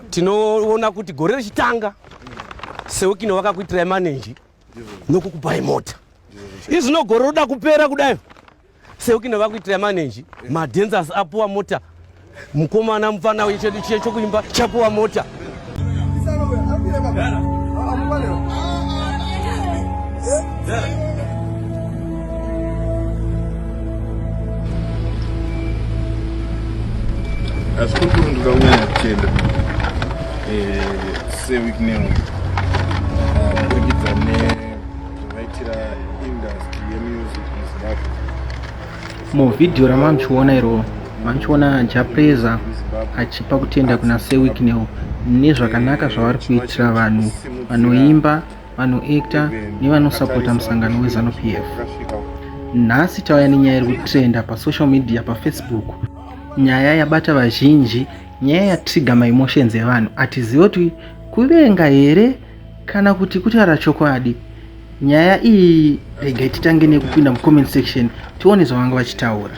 tinoona kuti gore rechitanga seukino vakakuitirai manenji nokukupai mota izvino gore roda kupera kudai seukino vakuitirai manenji madenzas apuwa mota mukomana mupfana uye chedu chiye chokuimba chapuwa mota Yeah. hazvikupurunduka kunyanya kuchenda eh, seweek new kuburikidza nezvavaitira industry yemusic muzimbabwe muvhidhiyo ramamuchiona iroo mamuchiona japreza achipa kutenda kuna seweek new nezvakanaka zvavari kuitira vanhu vanoimba vanoekta nevanosapota musangano wezanu p f nhasi tauya nenyaya iri kutrenda pasocial media pafacebook nyaya yabata vazhinji nyaya yatriga maemotions evanhu hatizive kuti kuvenga here kana kuti kutaura chokwadi nyaya iyi rega titange nekupinda mucomment section tione zvavanga vachitaura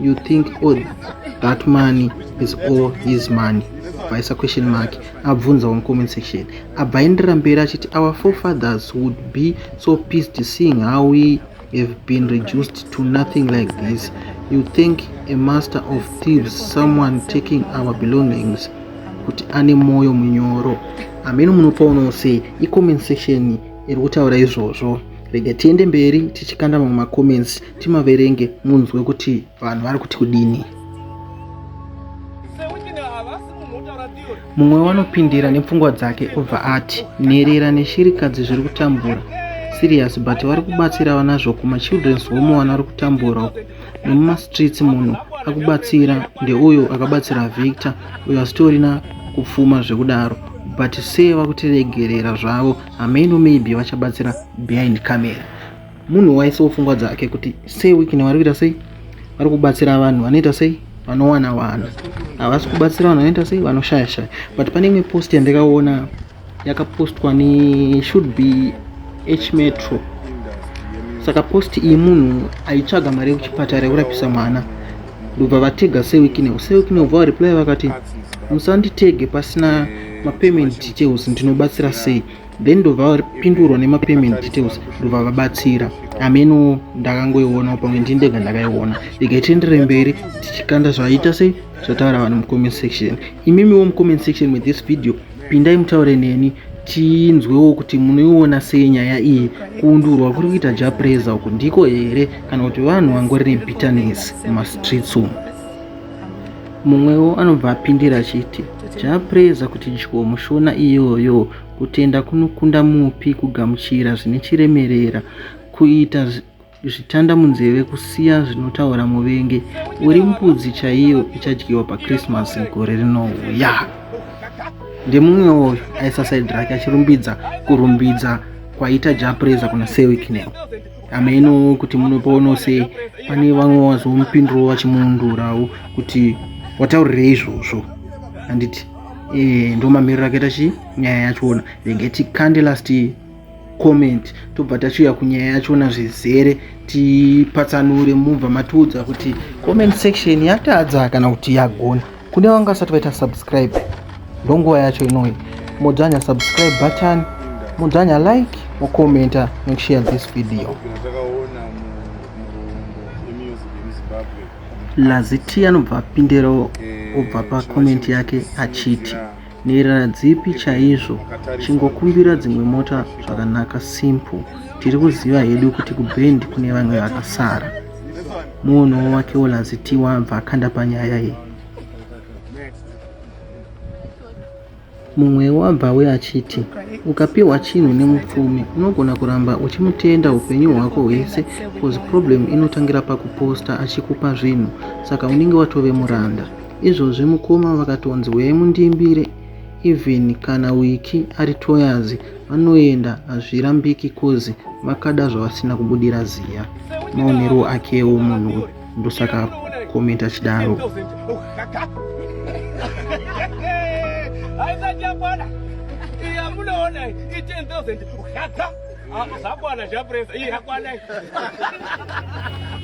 You think all that money is all his money? Vaisa question mark abvunza on comment section abva aenderera mberi achiti our forefathers would be so pissed seeing how we have been reduced to nothing like this. You think a master of thieves, someone taking our belongings, kuti ane moyo munyoro amene munopoonawo sei icomment section iri kutaura izvozvo rega tiende mberi tichikanda mamwe macomments timaverenge munzwe kuti vanhu vari kuti kudini mumwe wanopindira nepfungwa dzake obva ati nherera neshirikadzi zviri kutambura serious but vari kubatsira vanazvo kumachildren's home wana ri kutambura uku nemumastreets munhu akubatsira ndeuyo akabatsira victor uyo asitorina kupfuma zvekudaro but sei vakutiregerera zvavo hameno maybe vachabatsira behind camera munhu waisawo pfungwa dzake kuti sei wikini vari kuita sei vari kubatsira vanhu vanoita sei vanowana vanhu havasi kubatsira vanhu vanoita sei vanoshaya shaya but pane imwe post yandakaona yakapostwa ne should be h metro saka post iyi munhu aitsvaga mari yekuchipatara yekurapisa mwana ndobva vatega sewikinew sewikinew bva vareply vakati musanditege pasina mapayment details ndinobatsira sei then ndobva vapindurwa nemapayment details ndobva vabatsira ameno ndakangoiona pamwe ndini ndega ndakaiona regai tiendere mberi tichikanda zvaita sei zvataura vanhu mucomment section imimiwo mucomment section wethis video pindai mutaure neni tinzwewo kuti munoiona sei nyaya iyi kuundurwa kuri kuita japreza uku ndiko here kana kuti vanhu vangori nebitterness mumastreets umu mumwewo anobva apindira achiti japreza kuti dyo mushona iyoyo Kutenda kunokunda mupi kugamuchira zvine chiremerera, kuita zvitanda munzeve kusiya zvinotaura muvengi uri mbudzi chaiyo ichadyiwa pachristmas gore rinouya ndemumwe woyo aisasaid rake achirumbidza kurumbidza kwaita japreza kuna sewiknel ameno kuti munopaono sei pane vamwe wazomupinduro vachimuundurawo kuti wataurirei izvozvo handiti eh, ndo mamiriro akaita chi nyaya yachona renge tikande last comment tobva tachiuya kunyaya yachona zvizere tipatsanure mubva matiudza kuti comment section yatadza kana kuti yagona kune vanga vasati vaita subscribe ndonguva yacho inoi modzvanya subscribe button modzvanya like mocommenta nekushare this video Laziti anobva apindirawo obva pakomenti yake achiti nherera dzipi chaizvo chingokumbira dzimwe mota zvakanaka simple tiri kuziva hedu kuti kuband kune vamwe vakasara muonowo wake wolazitiwa abva akanda panyaya iyi Mumwewo abvawe achiti, Ukapiwa chinhu nemupfumi unogona kuramba uchimutenda upenyu hwako hwese coz problem inotangira pakuposter achikupa zvinhu saka unenge watove muranda. Izvozvi mukoma vakatonzi huyai mundiimbire even kana wiki ari toyazi vanoenda hazvirambiki coz vakada zvavasina kubudira ziya maonerwo akewo munhu uyu. ndosaka comment achidaro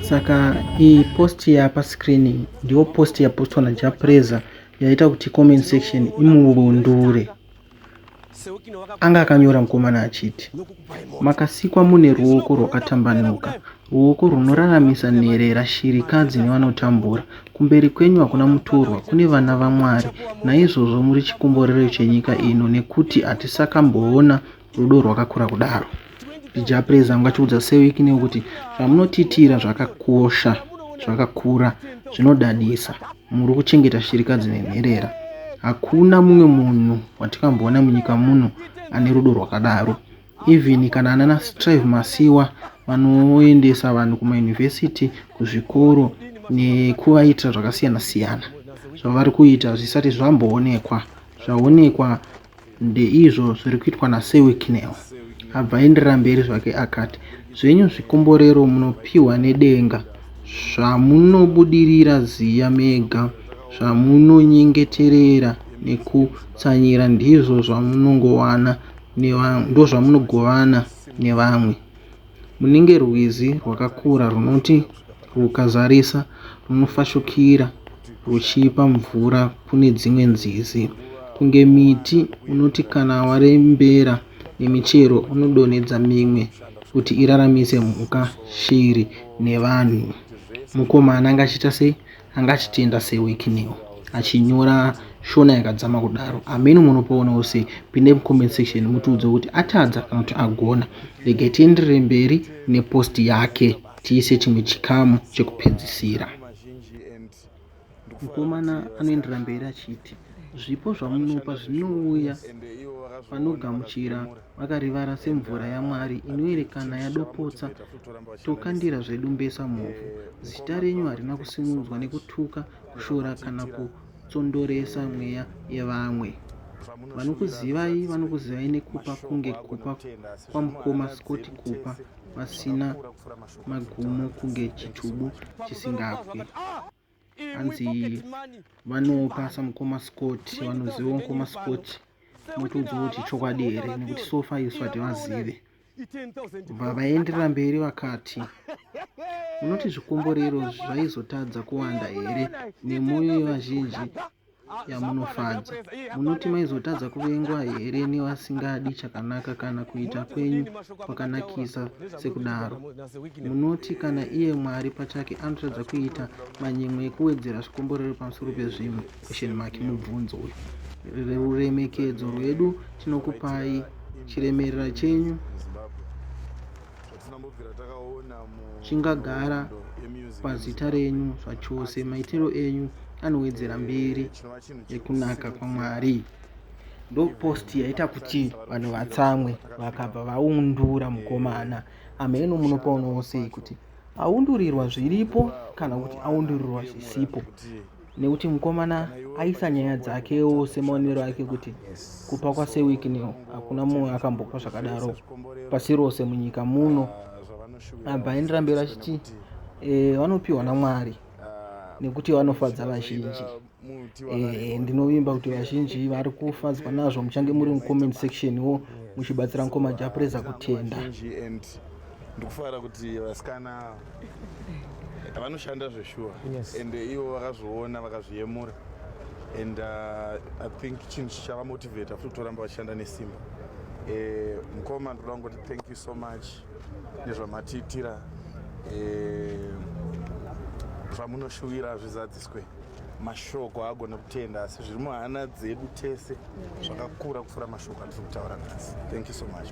saka iyi post yapa screen ndiyo post yapostwa najapreza yaita kuti comment section imuvundure Anga akanyora mukomana achiti, Makasikwa mune ruoko rwakatambanuka, ruoko runoraramisa nherera, shirikadzi nevanotambura. Kumberi kwenyu hakuna mutorwa, kune vana vaMwari. Naizvozvo muri chikomborero chenyika ino, nekuti hatisakamboona rudo rwakakura kudaro. Jah Prayzah angu achiudza Sewick Neo kuti zvamunotiitira zvakakosha zvakakura zvinodadisa muri kuchengeta shirikadzi nenherera hakuna mumwe munhu watikamboona munyika muno ane rudo rwakadaro even kana anana strive masiwa vanoendesa vanhu kumayunivhesiti kuzvikoro nekuvaitira zvakasiyana siyana zvavari kuita zvisati zvamboonekwa zvaonekwa Ndeizvo zviri kuitwa naSir Wicknell. Abva aenderera mberi zvake akati, Zvenyu zvikomborero munopiwa nedenga, zvamunobudirira ziya mega, zvamunonyengeterera nekutsanyira ndizvo zvamunongowana ndozvamunogovana nevamwe. Munenge rwizi rwakakura runoti rwukazarisa runofashukira rwuchipa mvura kune dzimwe nzizi. Kunge miti unoti kana warembera nemichero unodonhedza mimwe kuti iraramise mhuka, shiri nevanhu. Mukomana anga achiita sei? anga achitenda sewekiniwo achinyora shona yakadzama kudaro ameno munopoonawo sei pinde mucomment section mutiudze kuti atadza kana kuti agona regai tienderere mberi nepost yake tiise chimwe chikamu chekupedzisira mukomana anoendera mberi achiti zvipo zvamunopa zvinouya vanogamuchira vakarivara semvura yamwari inoerekana yadopotsa tokandira zvedu mbesa mhofu zita renyu harina kusimudzwa nekutuka kushora kana kutsondoresa mweya yevamwe vanokuzivai vanokuzivai nekupa kunge kupa kwamukoma scoti kupa vasina magumo kunge chitubu chisingabwi hanzi vanopa samukoma scott vanoziva mukoma scott motoudza kuti chokwadi here nekuti sofa isu hativazive bva vaenderera mberi vakati unoti zvikomborero zvaizotadza kuwanda here nemwoyo yevazhinji yamunofadza. Munoti maizotadza kuvengwa here nevasingadi chakanaka kana kuita kwenyu kwakanakisa sekudaro? Munoti kana iye Mwari pachake anotadza kuita manyemwe ekuwedzera zvikomborero pamusoro pezvimwe? Question mark mubvunzo uyu. Ruremekedzo rwedu tinokupai chiremerera chenyu chingagara pazita renyu zvachose maitiro enyu anowedzera mberi yekunaka kwamwari ndopost yaita kuti vanhu vatsamwe vakabva vaundura mukomana ameno munopoonawo sei kuti aundurirwa zviripo kana kuti aundurirwa zvisipo nekuti mukomana aisa nyaya dzakewo semaonero ake kuti kupa kwasewikneo hakuna mumwe akambopa zvakadaro pasi rose munyika muno abva aendera mberi achiti e, vanopiwa namwari nekuti vanofadza vazhinji e, ndinovimba kuti vazhinji vari kufadzwa nazvo muchange muri mucomment section wo muchibatsira mukoma japreza kutenda ndikufara kuti vasikana vanoshanda zveshuwa yes. and ivo vakazviona vakazviyemura and uh, i think chinhu chichavamotivata futi kutoramba vachishanda nesimba eh, mukoma ndoda kungoti thank you so much nezvamatiitira eh, zvamunoshuwira hazvizadziswe mashoko haagone kutenda asi zviri muhana dzedu tese zvakakura kupfuura mashoko atiri kutaura nhasi thank you so much